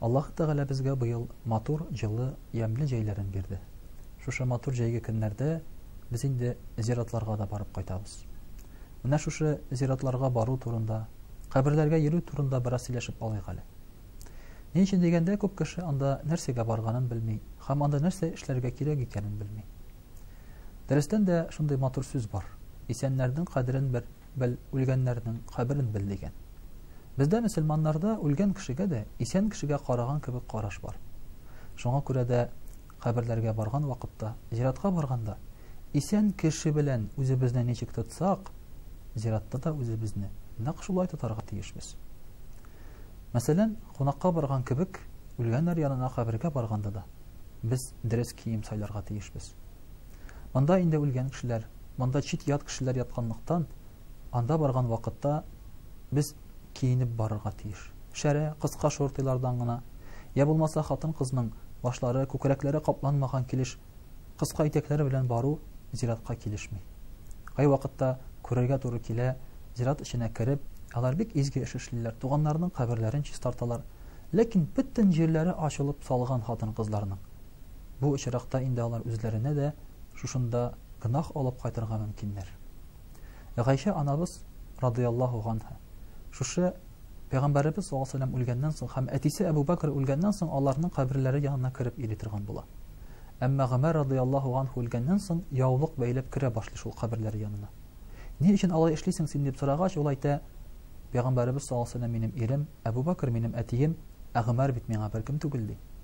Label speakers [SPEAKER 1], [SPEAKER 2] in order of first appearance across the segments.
[SPEAKER 1] Аллаһ Тәгалә безгә быел матур, җылы, ямьле җәйләрен бирде. Шушы матур җәйге көннәрдә без инде зиратларга да барып кайтабыз. Менә шушы зиратларга бару турында, каберләргә йөрү турында бераз сөйләшеп алыйк әле. Ни өчен дигәндә, күп кеше анда нәрсәгә барганын белми һәм анда нәрсә эшләргә кирәк икәнен белми. Дөрестән дә шундый матур сүз бар. Исәннәрнең кадерен бер, бел, үлгәннәрнең каберен бел дигән. Бездә мөселманнарда үлгән кешегә дә исән кешегә караган кебек караш бар. Шуңа күрә дә каберләргә барган вакытта, зиратка барганда исән кеше белән үзебезне ничек тотсак, зиратта да үзебезне нәкъ шулай тотарга тиешбез. Мәсәлән, кунакка барган кебек үлгәннәр янына кабергә барганда да без дөрес кием сайларга тиешбез. Монда инде үлгән кешеләр Монда чит-ят кешеләр ятканлыктан, анда барган вакытта без киенеп барырга тиеш. Шәрә, кыска шортыйлардан гына, йә булмаса хатын-кызның башлары, күкрәкләре капланмаган килеш кыска итәкләр белән бару зиратка килешми. Кайвакытта күрергә туры килә, зират эченә кереп, алар бик изге эш эшлиләр, туганнарының каберләрен чистарталар. Ләкин бөтен җирләре ачылып салган хатын-кызларның. Бу очракта инде алар үзләренә дә шушында гөнаһ алып кайтырга мөмкиннәр. Гайшә анабыз радыяллаһу ганха шушы Пәйгамбәребез саллаллаһу алейһи вәсәлләм үлгәннән соң һәм әтисе Әбу Бәкр үлгәннән соң аларның каберләре янына кереп йөри торган була. Әмма Гомәр радыяллаһу ганху үлгәннән соң яулык бәйләп керә башлый шул каберләре янына. Ни өчен алай эшлисең син дип сорагач, ул әйтә, Пәйгамбәребез саллаллаһу алейһи вәсәлләм минем ирем, Әбу Бәкр минем әтием, ә Гомәр бит миңа беркем түгел ди.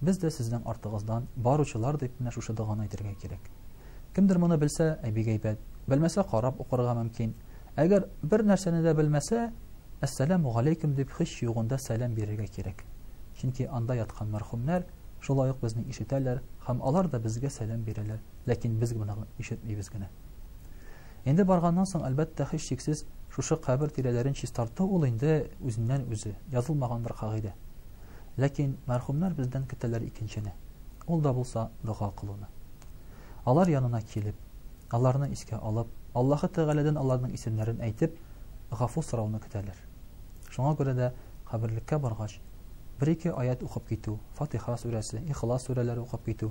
[SPEAKER 1] Без дә сезнең артыгыздан баручылар дип менә шушы доганы әйтергә кирәк. Кемдер моны белсә, ә бик әйбәт. Белмәсә, карап укырга мөмкин. Әгәр бер нәрсәне дә белмәсә, Әссәламү галәйкүм дип һич югында сәлам бирергә кирәк. Чөнки анда яткан мәрхүмнәр шулай ук безне ишетәләр һәм алар да безгә сәлам бирәләр, ләкин без моны ишетмибез генә. Инде барганнан соң, әлбәттә, һичшиксез, шушы кабер тирәләрен чистарту ул инде үзеннән-үзе, язылмаган бер кагыйдә. Ләкин мәрхүмнәр бездән көтәләр икенчене, ул да булса дога кылуны. Алар янына килеп, аларны искә алып, Аллаһы Тәгаләдән аларның исемнәрен әйтеп, гафу сорауны көтәләр. Шуңа күрә дә каберлеккә баргач, бер-ике аять укып китү, Фатиха сүрәсе, Ихлас сүрәләре укып китү,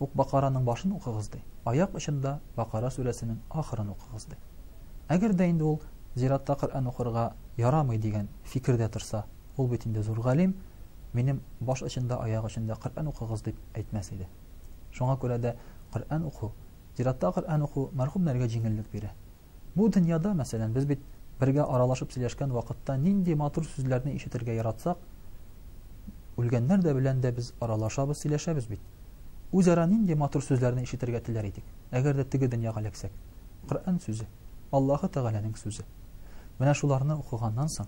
[SPEAKER 1] ук Бакараның башын укыгыз ди. Аяк очында Бакара сүрәсенең ахырын укыгыз ди. Әгәр дә инде ул зиратта Коръән укырга ярамый дигән фикердә торса, ул бит инде зур галим, минем баш очында, аяк очында Коръән укыгыз дип әйтмәс иде. Шуңа күрә дә Коръән уку, зиратта Коръән уку мәрхүмнәргә җиңеллек бирә. Бу дөньяда, мәсәлән, без бит бергә аралашып сөйләшкән вакытта нинди матур сүзләрне ишетергә яратсак, үлгәннәр дә белән дә без аралашабыз, сөйләшәбез бит. Үзара нинди матур сүзләрне ишетергә теләр идек, әгәр дә теге дөньяга эләксәк? Коръән сүзе, Аллаһы Тәгаләнең сүзе. Менә шуларны укыганнан соң,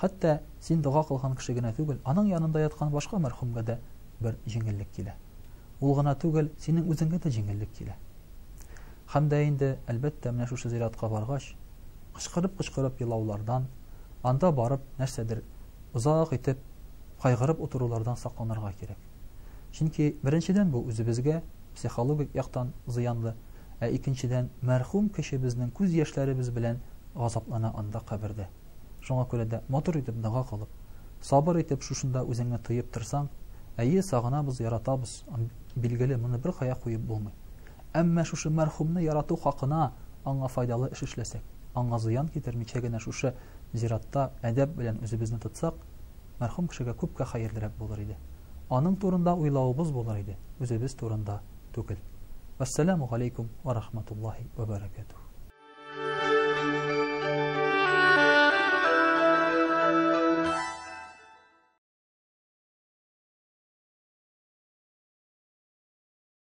[SPEAKER 1] хәтта син дога кылган кеше генә түгел, аның янында яткан башка мәрхүмгә дә бер җиңеллек килә. Ул гына түгел, синең үзеңгә дә җиңеллек килә. Һәм дә инде, әлбәттә, менә шушы зиратка баргач, кычкырып-кычкырып елаулардан, анда барып нәрсәдер озак итеп кайгырып утырулардан сакланырга кирәк. Чөнки, беренчедән, бу үзебезгә психологик яктан зыянлы, ә икенчедән, мәрхүм кешебезнең күз яшьләребез белән газаплана анда кабердә. Шуңа күрә дә матур итеп дога кылып, сабыр итеп шушында үзеңне тыеп торсаң, әйе, сагынабыз, яратабыз, билгеле, моны беркая куеп булмый. Әмма шушы мәрхүмне ярату хакына аңа файдалы эш эшләсәк, аңа зыян китермичә генә шушы зиратта әдәп белән үзебезне тотсак, мәрхүм кешегә күпкә хәерлерәк булыр иде. Аның турында уйлавыбыз булыр иде, үзебез турында түгел. Вәссәламү галәйкүм вә рахматуллаһи вә бәрәкәтүһ.